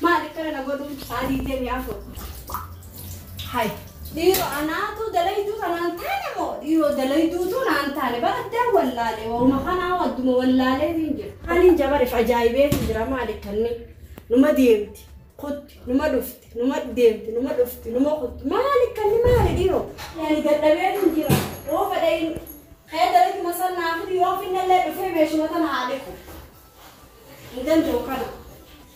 Maal akkana na godhuun sa'a 24. Hay dhiiro anaatu dalayduu kanaan taane moo dhiiroo dalayduutu naan taane bara addaan wallaale wauma kanaa adduma wallaalee hin jira. Haniin jabarif ajaa'ibee hin jira maal akkanni numa deemti kutti numa dhufti numa deemti numa dhufti numa kutti maal akkanni maali dhiiroo. Yani dadhabee hin jira yoo fedhe hin kee dalaydu masal naa fidi yoo finnallee dhufee meeshuma tana haa dhiqu. Hin danda'u kana.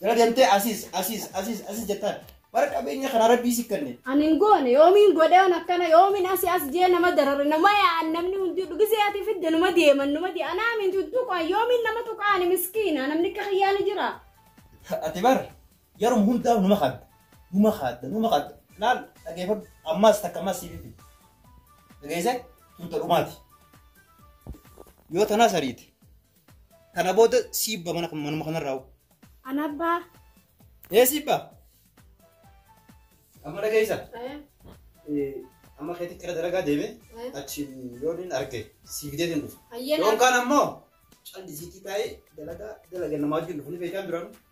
Jala deemtee asiis asiis asiis asiis jettaan. Bara qabeenya kana rabbii si kenne. Ani hin goone yoomiin godheewan akkana yoomiin asi as jee nama darare nama yaa'an namni hundi dhugizee ati fidde numa deeman numa deeman anaa minti hin tuqan yoomiin nama tuqaani miskiina namni akka kiyyaa ni jira. Ati bar yeruma hundaa numa kaadda. Numa kaadda numa kaadda. Laal dhageeffadhu ammaas takka ammaas siif fidde. Dhageessee tunta dhumaati. Yoo tanaa sariite Kana booda siibba mana manuma kanarraa hoo. Ana abbaa. Ee siibba. Amma dhageessa. Amma keetti gara dalagaa deeme achiin yoon hin arge siibidee hin dhufu. Yoon kaan ammoo callisiitii taa'ee dalagaa dalagaa namaa wajjin dhufu ni beekaa biraan.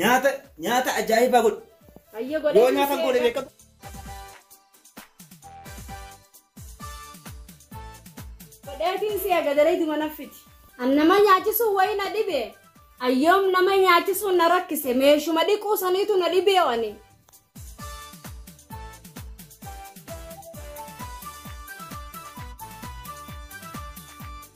Nyaata nyaata ajaa'ibaa godhi. Hayyee godhee Yoo nyaata goone dhiisee beekatu. godheetiin si eega dareeduma naffiti. An nama nyaachisuun wayii na dhibe. Ayyoom nama nyaachisuun na rakkise meeshuma dhiquu saniitu na dhibee ani.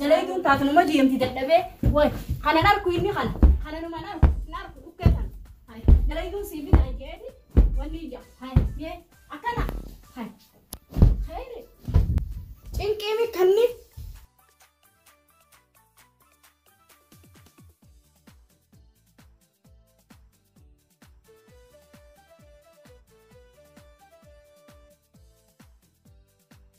Dalaituun taatunuma deemti dadhabee way kanan arku inni kana kananuman arku hin arku dhukkee kana hay dalaituun siif hin ajjeefi wanni ija hay yee akkana hay hayri cinqiimi kanni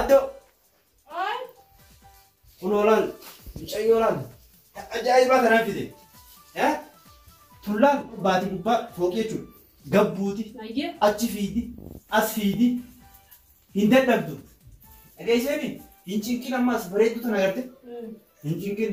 Addo! Kunoo laal, mucayyoo laal, kan ajaa'ibaa kanaan fide. Eh? Tullaan baatii gubbaa fooqii jechuudha. Gabbuuti, Ayyee. achi fiidi, as fiidi, hin dadhabdu. Dhageesseeti, hin cinqin ammaas bareedduu tana garte, hin cinqin.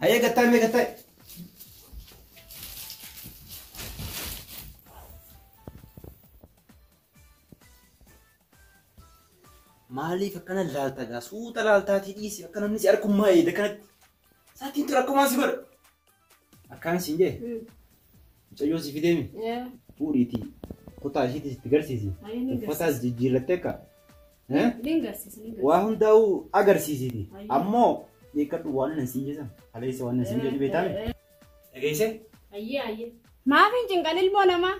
Hayee gattaa mee gattaa. Maaliif akkana laalta gaa suuta laaltaatii dhiisi akka namni si harkummaa eeda kanatti. Saatiin tura akkumaa si godha. Akkaan siin jee. Mucayyoo si fideemi. Yaa. Fuudhiitii kutaa ishiitis itti garsiisi. Ayi ni Uffataas garsiisa. jijjiirrattee akka. Eh? Ni garsiisa ni garsiisa. Waa hundaa'uu agarsiisiti. Ayyo. Ammoo beekadhu waan nan siin jedhan. Haleessa waan nan siin jedhu beektaami. Eh, eh, Dhageesse? Ayyee ayyee. Maaf hin cinqan ilmoo namaa?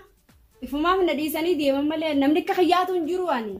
Ifumaaf na dhiisanii deeman malee namni akka kiyyaatu hin jiru ani.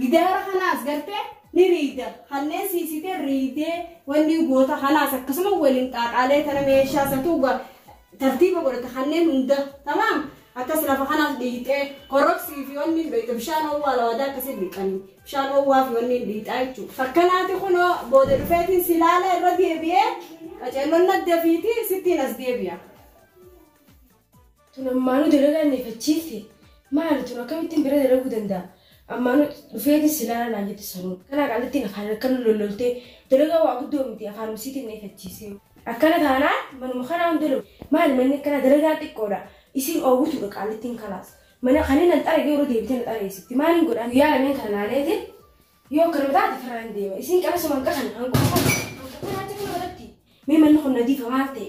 Gidaara kanaas gartee ni riida. Hallee siisitee riidee wanni goota kanaas akkasuma waliin xaaxaalee tana meeshaa satuu tartiiba godhata kanneen hunda tamaam akkas lafa kanaas dhiixee koroksii fi wanni beekta bishaan owwaa lawadaa akkasii dhiqani bishaan owwaa fi wanni dhiixaa jechuudha. Fakkanaati kunoo booda dhufeetiin si laala irra deebi'ee qaceelloon nadda fiiti sittiin as deebi'a. Tun ammaanuu dalagaa nefachiifte maali tun akkamittin bira dalaguu danda'a ammaanuu dhufeeti si laala naan jette sanuu akkanaa qaallittiin afaan akkana lolloltee dalagaa waa guddoo miti afaanuma isiitiin nefachiisee. Akkana taanaan manuma kanaa hin dalagu maali manni akkanaa dalagaan xiqqoodha isiin oowwituudha qaallittiin kalaas mana kanii nan xarage yeroo deebite na xareessifti maaliin godha guyyaa lameen kana laaleetiin yoo akkanuma taate firraa hin deema isiin qabasuma hanqa kana hanquma kana hanqa kana jechuun irratti mee manni kun nadiifa maal ta'e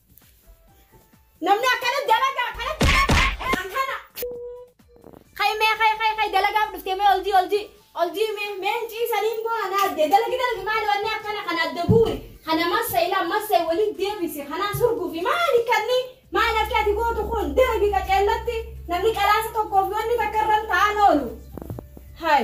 Namni akkana dalagaa akkana dalagaa akkana. Kai mee kai kai kai dalagaaf dhuftee mee oljii oljii oljii mee mee hin ciisaniin boo ana adde dalagi dalagi maali wanni akkana kana adda guuri kana massa ilaa massa waliin deebisi kanaa surguufi maali kanni maali akka ati gootu kun dalagi qaceellatti namni qalaasa tokkoof wanni takka irra hin ta'an oolu. Hai.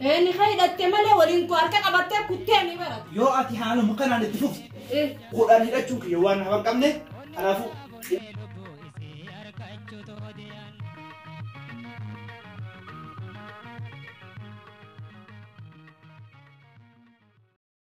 Ee ni ka hidhatte malee waliin koo harka qabattee kuttee ni barata. Yoo ati haaluma kanaan itti fufte Ee. kudhan hidhachuun kiyya waan nama hin qabne kanaafuu